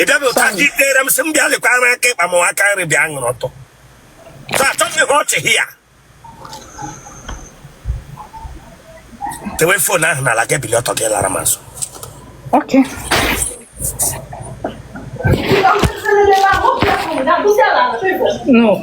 ị bịaghị ụta gị ikpere m sị m bịa lekwa ara aka ịkpa m aka nri bịa kwụrụ ọtọ so achọghị ihe ọchị here dewe phone ahụ n'ala gị bili ọtọ gị lara m azụ Okay. No.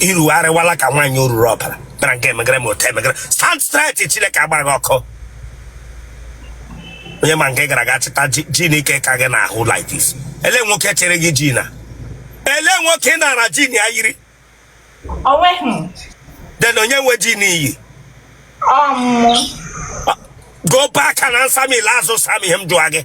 iru arịwala ka nwaanyị oruru ọbara dara nke emegere ma otu emegere stand straight chineke gbaa gị ọkụ onye ma nga ị gara aga chịta jean nke ka gị n'ahụ like this ele nwoke chiri gị jean a ele nwoke ị nara jean ị yiri then onye nwe jean i yi go back and answer me last time him do again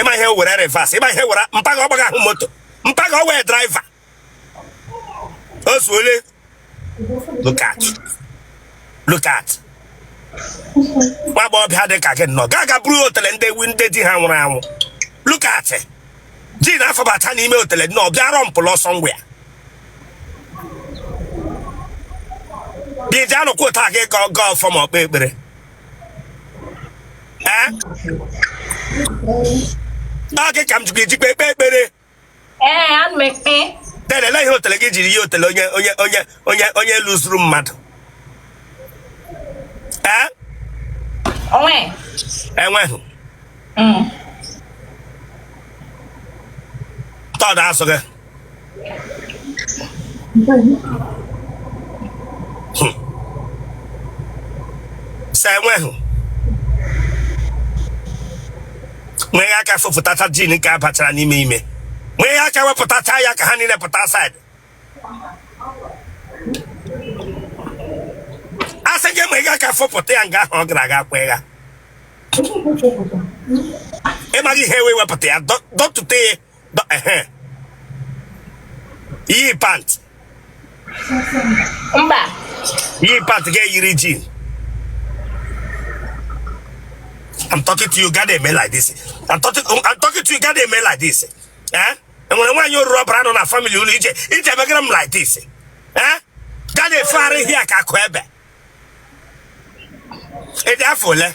ịma ihe wụ reverse ịma ihe wụ mpa gị ọgbaghị ahụ moto mpa gị ọ wụ driver o zuole look at look at nwa agbọghọbịa dị ka gị nnọọ gaa ga buru otele ndị ewu ndị di ha nwụrụ anwụ look at jean afọbata n'ime otele nnọọ bịa rumple ọsọ ngwa ya gị ji anụkwu ụta gị ka ọ gaa ọfọ ma ekpe ekpere ee ọ gị ka m jikwa ejikwa ekpe ekpere ee ana m ekpe then lee ihe otele gị jiri ihe otele onye onye onye onye onye lụzuru mmadụ ee onwe enweghị tọdụ asụ gị sa enweghị were aka fụpụtacha jean nke a bachara n'ime ime were aka wepụtacha ya ka ha niile pụta outside asị gị ma ị ga-aka fọpụta ya nga ahụ ọ gara aga kwe ya ịmaghị ihe wụ wepụta ya dọtụta ya iyi pant mba iyi pant ga-eyiri jean I'm talking to you, gị na-eme like this. I'm talking, I'm talking to you, gị na-eme like this. Eh? enwere nwaanyị oruru ọbara nọ na family unu ije ije megara m like this eh? gị na-efegharị here ka akụ ebe ịdị afọ ole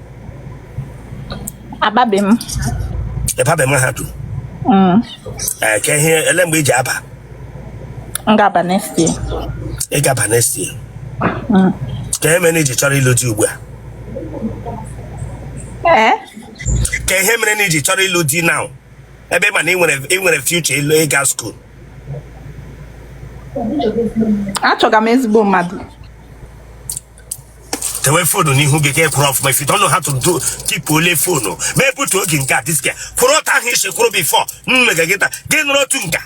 ababe m ị babe mahadum Mm, ee ka ihe ele mgbe i ji aba m ga-aba next year ị ga-aba next year Mm. ka ihe mere na i ji chọrọ ịlụ di ugbu a ee ka ihe mere na i ji chọrọ ịlụ di now ebe ị ma na ị nwere ị nwere future ịlụ ịga school achọga m ezigbo mmadụ dewe phone n'ihu gị ka ị kwụrụ ọfụma if you don't know how to do keep hold phone m ebutuo gị nga this guy kwụrụ otu ahụ i si kwụrụ before mmega gị taa gị nọrọ otu nga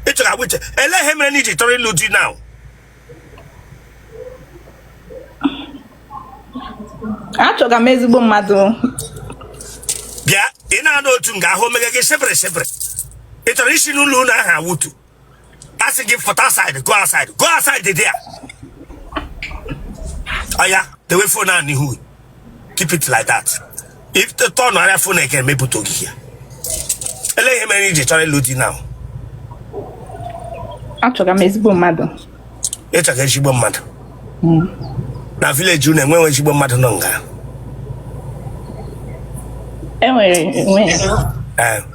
ị chọrọ agwa uche elee ihe mere na i ji chọrọ ịlụ di now achọga m ezigbo mmadụ bịa ị na-anọ otu nga ahụ ọ mega gị sepere sepere ị chọrọ isi n'ụlọ ụlọ ahụ awụtu a sị gị pụta outside go outside go outside there oya dewe phone a n'ihu keep it like that if the turn arịa phone again m ebutuo gị ele ihe mere i ji chọrọ ịlụ di now achọga m ezigbo mmadụ ị chọga ezigbo mmadụ hmm. na village unu enweghị ezigbo mmadụ nọ nga enwere enweghị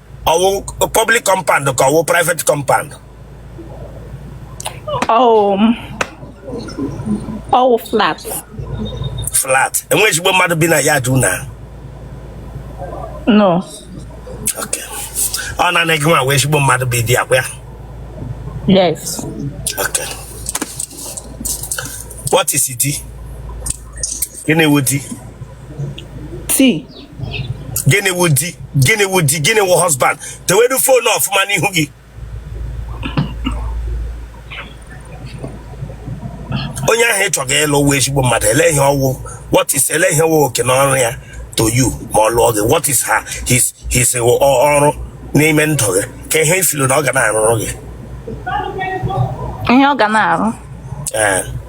ọ wụ public compound ka ọ wụ private compound ọ wụ m ọ wụ flat flat enwe ezigbo mmadụ bi na ya there now no okay ọ na anaghị nwa wee ezigbo mmadụ bi there akwa ya yes okay what is it gịnị wụ di di gịnị wụ di gịnị wụ di gịnị wụ husband dewe the phone ọfụma n'ihu gị onye ahụ ị chọga ịlụ wụ ezigbo mmadụ ele ihe ọ wụ what is ele ihe wụ oke na ọrụ ya to you ma ọ lụọ gị what is her his his ọ- ọrụ n'ime ndụ gị ka ihe ị feel na ọ ga na-arụrụ gị ihe ọ ga na-arụ Ee.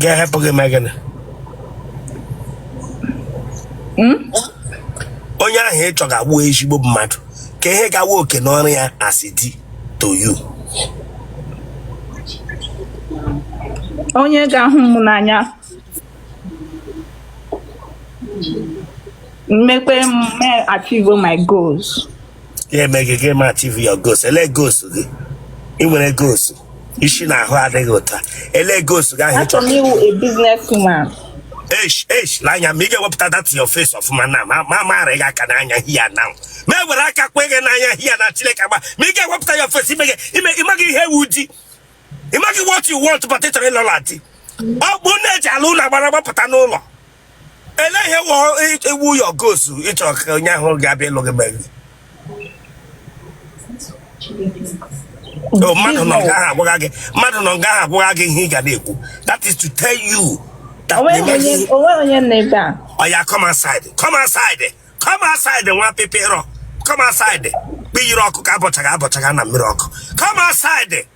ga-ehelp gị mee gịnị hmm? onye ahụ ị chọga wụ ezigbo mmadụ ka ihe ga-awụ oke na ọrụ ya as di to you onye ga-ahụ m n'anya make me achieve my goals ya eme gị gị achieve your goals ele goals gị ị nwere goals isi na ahụ adịghị ụta ele goals gị ahụ achọrọ m ịwụ a businesswoman esh esh n'anya ma ị ga-ewepụta that your face ọfụma na ma ma mara gị aka n'anya here now m ewere aka kwe gị n'anya here now chineke agba ma ị ga-ewepụta your face ime gị ime ị maghị ihe wụ di ị maghị what you want but ị chọrọ ịlụla di ọ bụ na-eji ala ụlọ agbara gbapụta n'ụlọ ele ihe wụ your goals ị chọrọ ka onye ahụ ga-abịa ịlụ gị mere oh, mmadụ nọ nga ahụ agwaghị gị mmadụ nọ nga ahụ agwaghị gị ihe ị ga na-ekwu that is to tell you that onweghị onye nọ ebe a oya come outside come outside come outside nwa pịpịrọ come outside kpiyiri ọkụ ka abọchaghị abọchaghị na mmiri ọkụ come outside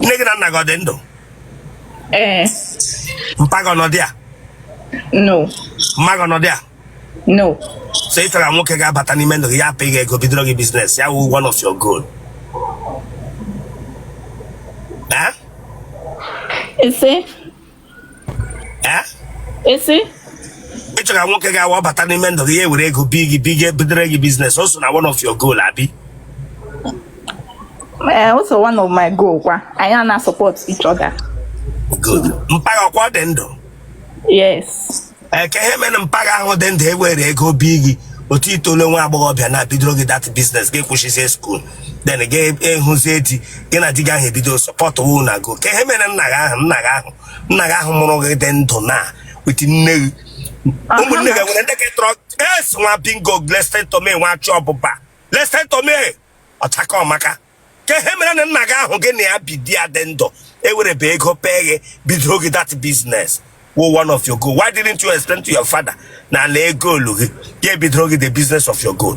nne gị na nna gị ọ dị ndụ ee mpa gị ọ nọdị ya no mma gị ọ nọdị ya no so ị chọrọ nwoke ga-abata n'ime ndụ gị ya apị gị ego bidoro gị business ya wụ one of your goal Eh? ị sị ị sị ị chọrọ nwoke ga-awa bata n'ime ndụ gị ya were ego bi gị bi gị bidoro gị business o so na one of your goal abi ee o so one of my goal kwa anyị a na-support each other good mpa gị ahụ ọkwa ọ dị ndụ yes kee ihe mere mpa gị ahụ dị ndụ ewere ego bi gị otu itole nwa agbọghọbịa na-abidoro gị that business gị kwụsịzie school then gị ahụzie di gị na di gị ahụ ebido support wu na go kee ihe mere nna gị ahụ nna gị ahụ nna gị ahụ mụrụ gị dị ndụ na with nne gị ụmụnne gị nwere ndị ka tọrọ yes nwa bingo listen to me nwa achọ ọbụba listen to me ọchaka ọmaka kee ihe mere na nna gị ahụ gị na ya bi di ya dị ndụ ewerebe ego pee gị bidoro gị that business wụ one of your goal why didn't you explain to your father na lee goal gị ya ebidoro gị the business of your goal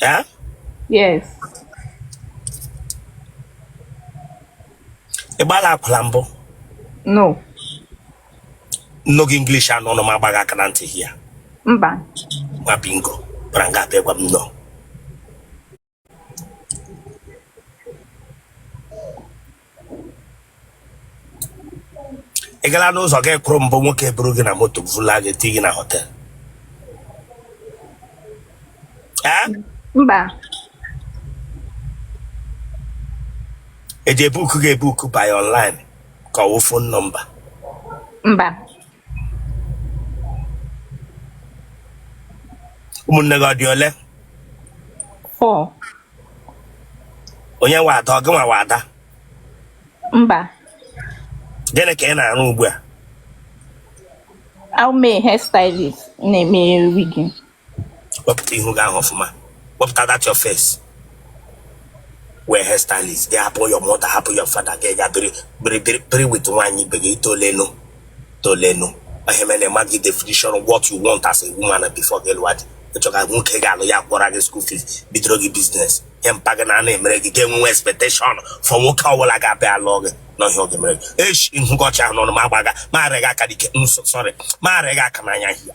Huh? Yes. Ị gbaala akwụla mbụ? No. M nụọ gị English n'ọnụ m agbaa gị aka na ntị here. Mba. Nwa bingo, bara nga a bịa gwa m no. ị gala n'ụzọ ga kwụrụ mbụ nwoke buru gị na moto vula gị tii gị na hotel ee mba eji ebook gị ebook by online ka ọ wụ phone number mba ụmụnne gị ọ dị ole Four. onye wụ ada ọ gị nwa wụ ada Mba. gịnị ka ị na-arụ ugbu a A wụ m hairstylist na-eme wigging. wepụta ihu gị ahụ ọfụma wepụta that your face ị wụ hairstylist gị hapụ your mother hapụ your father gị gaa biri biri biri biri with nwaanyị ibe gị itolenu tolenu ihe mere na gị definition of what you want as a woman before gị lụwa di ịchọka nwoke ga-alụ gị kwụra gị school fees bidoro gị business ihe mpa gị na-anaghị emere gị ga-enwenwe expectation for nwoke ọbụla ga-abịa alụọ gị n'ọ bịa ọ ga-emere gị echi nhụkọcha ahụ n'ọnụ ma agbaga ma arịa gị aka n'ike sorry ma arịa gị aka n'anya hia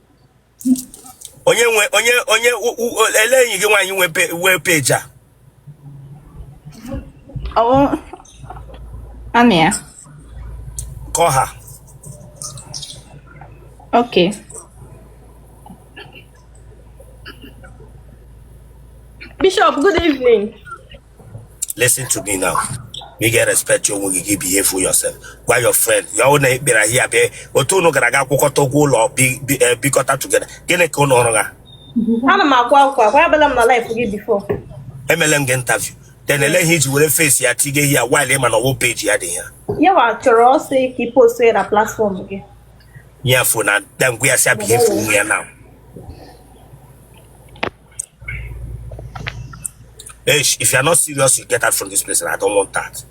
onye nwe onye onye ele enyi gị nwaanyị nwe wee page a anụ ya kọ ha ok bishop good evening listen to me now you get respect your onwe gị gị behave for yourself gwa your friend ya ọ na-ekpere ahịa bịa otu unu gara aga kwụkọta ụgwọ ụlọ bi- bi- eh, bikọta together gịnị ka unu ọrụ ha ana m akwa akwa akwa abịala m na live gị before emele m gị interview then ele ihe iji were face ya tige here while ịma na ọwụ page ya dị ya yawa chọrọ ọsọ ka ị post ya na platform gị nye ya phone a then gwa ya sị behave for onwe ya now Hey, if you are not serious, you get out from this place, and I don't want that.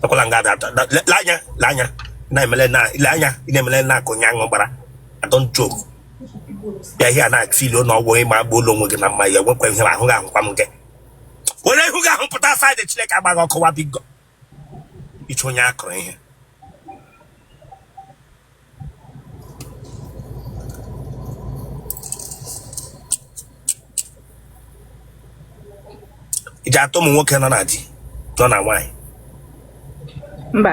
Akwala nga ada ada- le- le anya le anya na emele na le anya ị na-emele na akụ nya gbara I don't joke here ihe a na-afeel ụlọ ọgwụ ịma agba ụlọ onwe gị na mma ya nwekwa ihe ahụ gị ahụkwa m gị were ihu gị ahụ pụta outside Chineke agba gị ọkụ nwa bingo ịchụ onye a kụrụ ihe iji atọ ụmụ nwoke nọ na di nọ na nwaanyị mba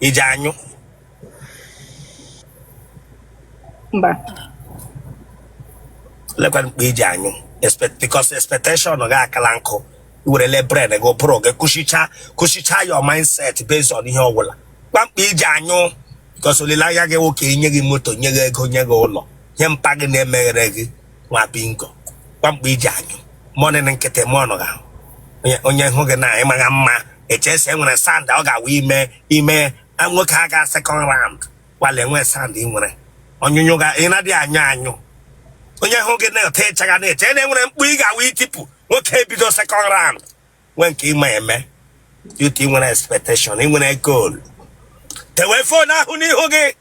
iji anyụ mba lekwa mgbe iji anyụ because expectation gị akala nkụ iwerele brain gị ụbụrụ gị kụchicha kụchicha your mindset based on ihe ọbụla kwa mgbe iji anyụ because olileanya gị nwoke nye gị moto nye gị ego nye gị ụlọ ihe mpa gị na-emeghere gị nwa bingo kwa mgbe iji anyụ moaning na nkịtị moaning gị ahụ Onye- onye hụ gị na ịmagha mma echee sị inwere sound ọ ga-awụ ime ime a, nwoke a ga second round gbalị enwe sound ị nwere ọnyụnyụ ga ị na-adịghị anyụ anyụ onye hụ gị na etu ịchagha na-eche na inwere mkpu ị ga-awụ itipu nwoke ebido second round nwee nke ịma eme dịka ị nwere expectation ị nwere goal tewe phone ahụ n'ihu gị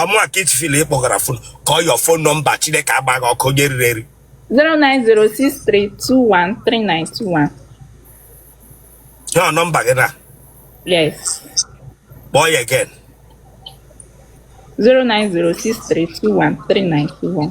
ọ mụa ka ichifil ị kpọgara phone call your phone number chineke agba gị ọkụ onye eriri eri 09063213921. your number gị na Yes. kpọọ ya again 09063213921.